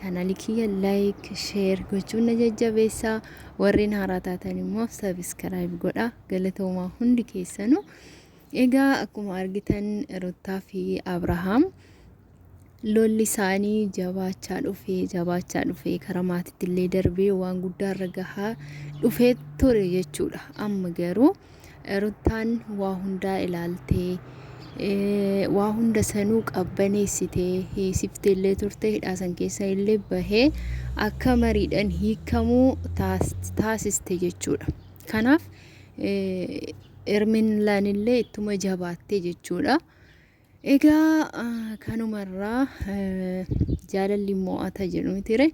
Channel kiyya like, share gochuun na jajjabeessaa. Warreen haaraa taatan immoo subscribe godhaa. Galatoomaa hundi keessanuu. Egaa akkuma argitan Ruttaa fi Abrahaam lolli isaanii jabaachaa dhufee jabaachaa dhufee karaa maatiitti illee darbee waan guddaa irra gahaa dhufee ture jechuudha. Amma garuu Ruttaan waa hundaa ilaaltee waa hunda sanuu qabbaneessitee hiisifteellee turte hidhaa san keessa illee bahee akka mariidhaan hiikamuu taasiste jechuudha. Kanaaf Erminlaan illee ittuma jabaatte jechuudha. Egaa kanumarraa jaalalli mo'ata jedhu mitire.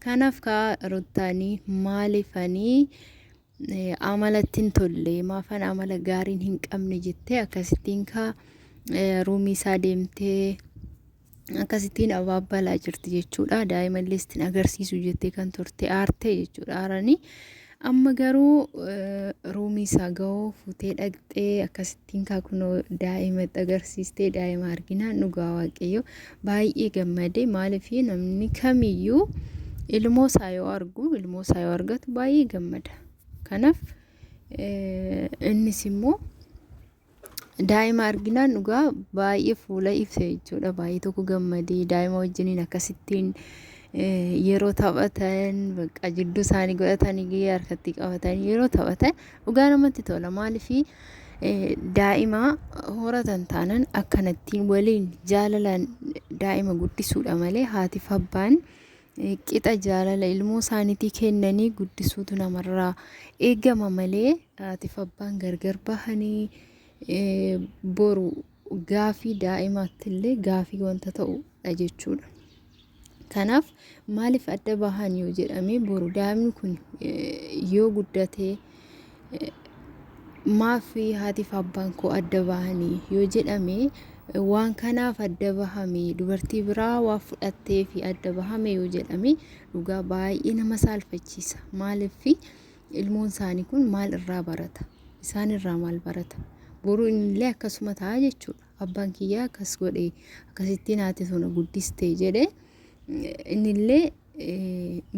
Kanaaf kaa ruttaanii maalifanii Amalatti hin tolle maafan amala gaariin hin qabne jettee akkasittiin kaa ruumii isaa deemtee akkasittiin abaabbalaa jirti jechuudha. Daa'ima illee ittiin agarsiisu jettee kan turte aartee jechuudha aaranii. Amma garuu ruumii isaa gahoo fuutee dhaqxee akkasittiin. Tinkaa kunoo daa'imatti agarsiistee daa'ima arginaan dhugaa waaqayyo baay'ee gammade maaliif namni kamiyyuu ilmoo isaa yoo argu ilmoo isaa yoo argatu baay'ee gammada kanaaf innis immoo daa'ima arginaan dhugaa baay'ee fuula ibse jechuudha baay'ee tokko gammadee daa'ima wajjiniin akkasittiin yeroo taphatan bakka jidduu isaanii godhatanii harkatti qabatanii yeroo taphatan dhugaa namatti tola maaliif Daa'ima horatan taanan akkanattiin waliin jaalalaan daa'ima guddisuudha malee haatiif abbaan qixa jaalala ilmoo isaaniitii kennanii guddisuutu namarraa eegama malee haatiif abbaan gargar bahanii boru gaafii daa'imaattillee gaafii wanta ta'udha jechuudha. Kanaaf maaliif adda bahan yoo jedhame boru daa'imni kun yoo guddate maaf haatiif abbaan koo adda bahanii yoo jedhame waan kanaaf adda bahame dubartii biraa waan fudhattee fi adda bahame yoo jedhame dhugaa baay'ee nama saalfachiisa maaliif ilmoon isaanii kun maal irraa barata isaan irraa maal barata boru illee akkasuma ta'a jechuudha. abbaan kiyyaa akkas godhe akkasittiin haati too na guddiste jedhe innillee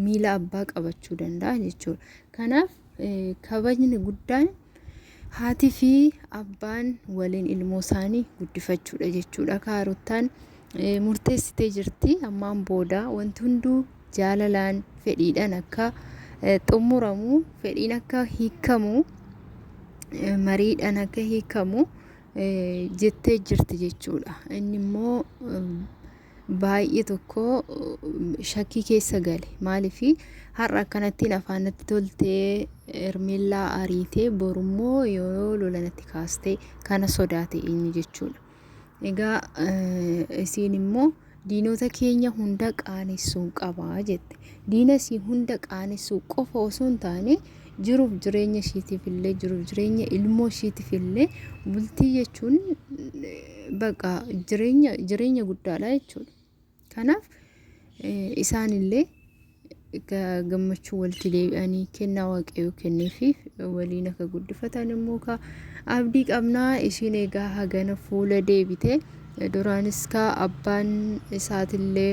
miila abbaa qabachuu danda'a jechuudha. Kanaaf kabajni guddaan haati fi abbaan waliin ilmoo isaanii guddifachuudha jechuudha. Kaarottaan murteessitee jirti ammaan booda wanti hunduu jaalalaan fedhiidhaan akka xumuramu fedhiin akka hiikamu mariidhaan akka hiikamu jettee jirti jechuudha. Inni immoo baay'ee tokko shakkii keessa gale. Maaliif har'a akkanattiin afaan natti toltee Hermeellaa ariitee borummoo yoo lola natti kaastee kana sodaate inni jechuudha. Egaa isiin immoo Diinota keenya hunda qaanessuun qaba jette. Diina isii hunda qaanessuu qofa osoo hin taane jiruuf jireenya ishiitiif illee jiruuf jireenya ilmoo ishiitiif illee bultii jechuun baqa jireenya jireenya guddaadha jechuudha. Kanaaf isaanillee Egaa gammachuu walitti deebi'anii kennaa waaqayyoo kenneefiif waliin akka guddifatan immoo kaa abdii qabnaa ishiin egaa hagana fuula deebite duraanis kaa abbaan isaatillee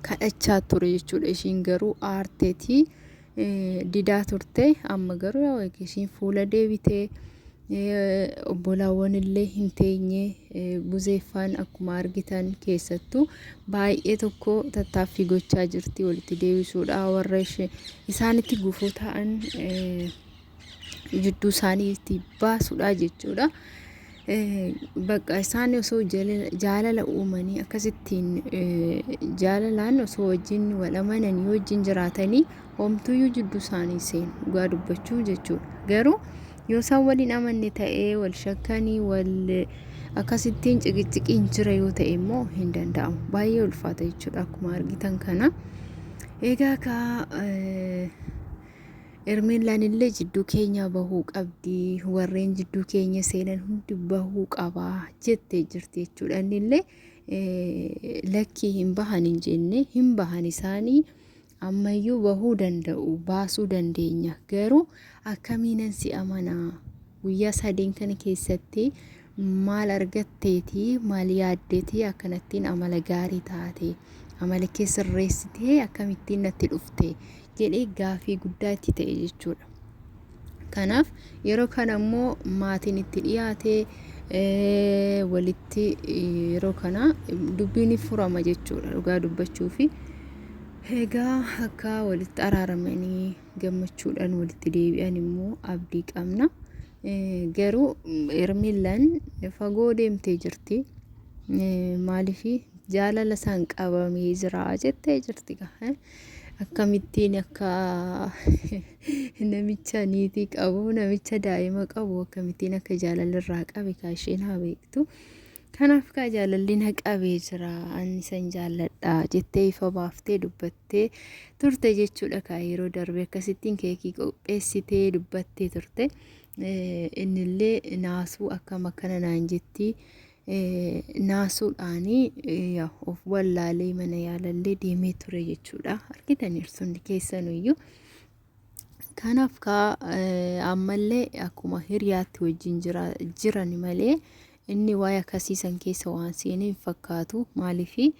kadhachaa ture jechuudha ishiin garuu aarteetii didaa turte amma garuu yaa ishiin fuula deebitee Obbolaawwan illee hin teenye buzeeffaan akkuma argitan keessattu baay'ee tokko tattaaffii gochaa jirti walitti deebisuudha warra ishee isaanitti gufuu ta'an eh, jidduu isaanii itti baasuudha jechuudha. Eh, Bakka isaan osoo jala- jaalala uumanii akkasittiin eh, jaalalaan osoo wajjin wal amananii wajjin jiraatanii homtuyyuu jidduu isaanii seenu dhugaa dubbachuu jechuudha. Garuu Yoo isaan wal hin amanne ta'e, wal shakkanii, wal akkasittiin ciqicciqiin jira yoo ta'e immoo hin danda'amu. Baay'ee ulfaata jechuudha akkuma argitan kana. Egaa kaa Ermeellaan illee jidduu keenyaa bahuu qabdi warreen jidduu keenya seenan hundi bahuu qaba jettee jirti jechuudha inni illee lakkii hin bahan hin jenne hin bahan isaanii Ammayyuu bahuu danda'u, baasuu dandeenya. Garuu akkamiinan si amanaa? Guyyaa sadeen kana keessatti maal argatteeti, maal yaaddeeti akkanattiin amala gaarii taate, amala kee sirreessitee akkamittiin natti dhufte jedhee gaafii guddaa itti ta'e jechuudha. Kanaaf yeroo kana immoo maatiin itti dhiyaate walitti yeroo kana dubbiin furama jechuudha dhugaa dubbachuu fi egaa akka walitti araaramanii gammachuudhaan walitti deebi'an immoo abdii qabna. Garuu Hermillan fagoo deemtee jirti. Maaliif jaalala isaan qabamee jira jettee jirti. akkamittiin akka namicha niitii qabu namicha daa'ima qabu akkamittiin akka jaalalirraa qabe kaa isheen haa beektu kanaaf kaa jaalalli na qabee jira ani san jaalladha jettee ifa baaftee dubbattee turte jechuudha kaa yeroo darbe akkasittiin keekii qopheessitee dubbattee turte innillee naasuu akkam akkana naan jettii naasuudhaan of wallaalee mana yaalallee deemee ture jechuudha. Argitaniiru hundi keessanuyyuu. Kanaaf kaa ammallee akkuma hiriyaatti wajjin jiran malee inni waa'ee akkasiisan keessa waan seenee hin fakkaatu maaliifi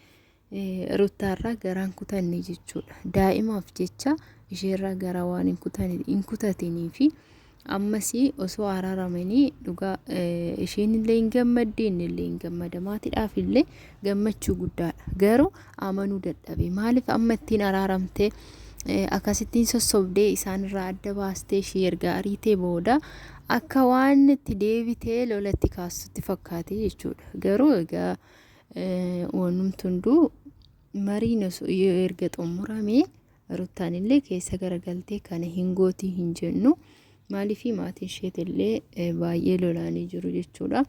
Ruttaarraa garaa hin kutanne jechuudha. Daa'imaaf jecha isheerraa garaa waan hin kutane hin kutatanii fi ammas osoo araaramanii dhugaa eh, isheen illee hin gammadde inni illee hin gammada maatiidhaaf illee gammachuu guddaadha. Garuu amanuu dadhabe maaliif amma ittiin araaramte eh, akkasittiin sossobdee isaanirraa adda baastee ishee erga ariitee booda akka waan itti deebitee lolatti kaastutti fakkaate jechuudha. Garuu egaa Wanumti hunduu mariin osoo yoo erga xumuramee ruttaan illee keessa garagaltee kana hin gootii hin jennu maaliifii maatii isheeti illee baay'ee lolaanii jiru jechuudha.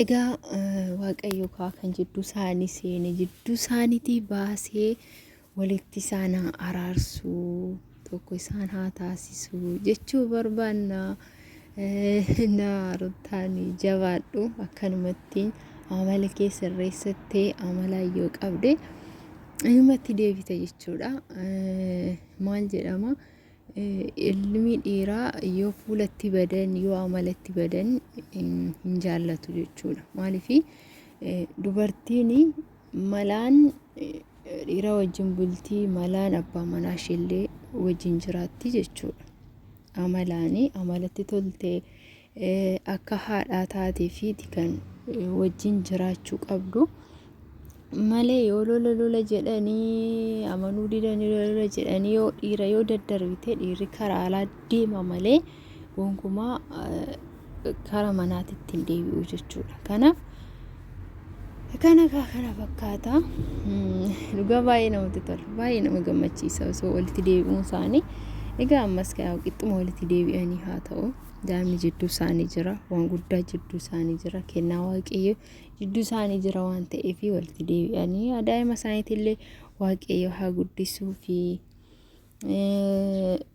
Egaa waaqayyo kaa kan jidduu isaanii seene jidduu isaaniitii baasee walitti isaan haa araarsu, tokko isaan haa taasisu jechuu barbaanna. Na Ruttaan jabaadhu akkanumatti amala kee sirreessattee amala yoo qabde ilmatti deebita jechuudha. Maal jedhama? Ilmi dhiiraa yoo fuulatti badan yoo amalatti badan hin jaallatu jechuudha. Maaliif dubartiin Malaan dhiira wajjin bulti, malaan abbaa manaa isheellee wajjin jiraatti jechuudha. Amalaani amalatti toltee akka haadhaa taatee fi kan wajjin jiraachuu qabdu. Malee yoo lola lola jedhanii amanuu didanii lola jedhanii yoo dhiira yoo daddarbite dhiirri karaa alaa deema malee. gonkumaa kara manaatti ittiin deebi'u jechuudha. Kanaaf kana kaa kana fakkaata dhugaa baay'ee namatti tola baay'ee nama gammachiisa osoo walitti deebi'uun isaanii egaa ammas kaa qixxuma walitti deebi'anii haa ta'u daa'imni jidduu isaanii jira waan guddaa jidduu isaanii jira kennaa waaqayyo jidduu isaanii jira waan ta'eef walitti deebi'anii daa'ima isaaniitillee waaqayyo haa guddisuu fi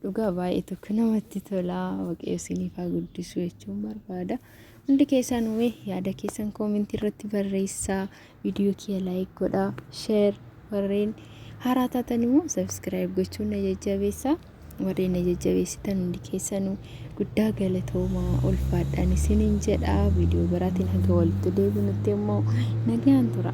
Dhugaa baay'ee tokko namatti tola waaqayyo isiniif haa guddisu jechuun barbaada. Hundi keessaan uumee yaada keessan koomentii irratti barreessaa viidiyoo kiyya laayik godhaa sheer warreen haaraa taatan immoo sabiskiraayib gochuun na jajjabeessaa warreen na jajjabeessitan hundi keessanuu guddaa galatoomaa ulfaadhaan isiniin jedha viidiyoo biraatiin haga walitti deebinutti immoo nagaan tura.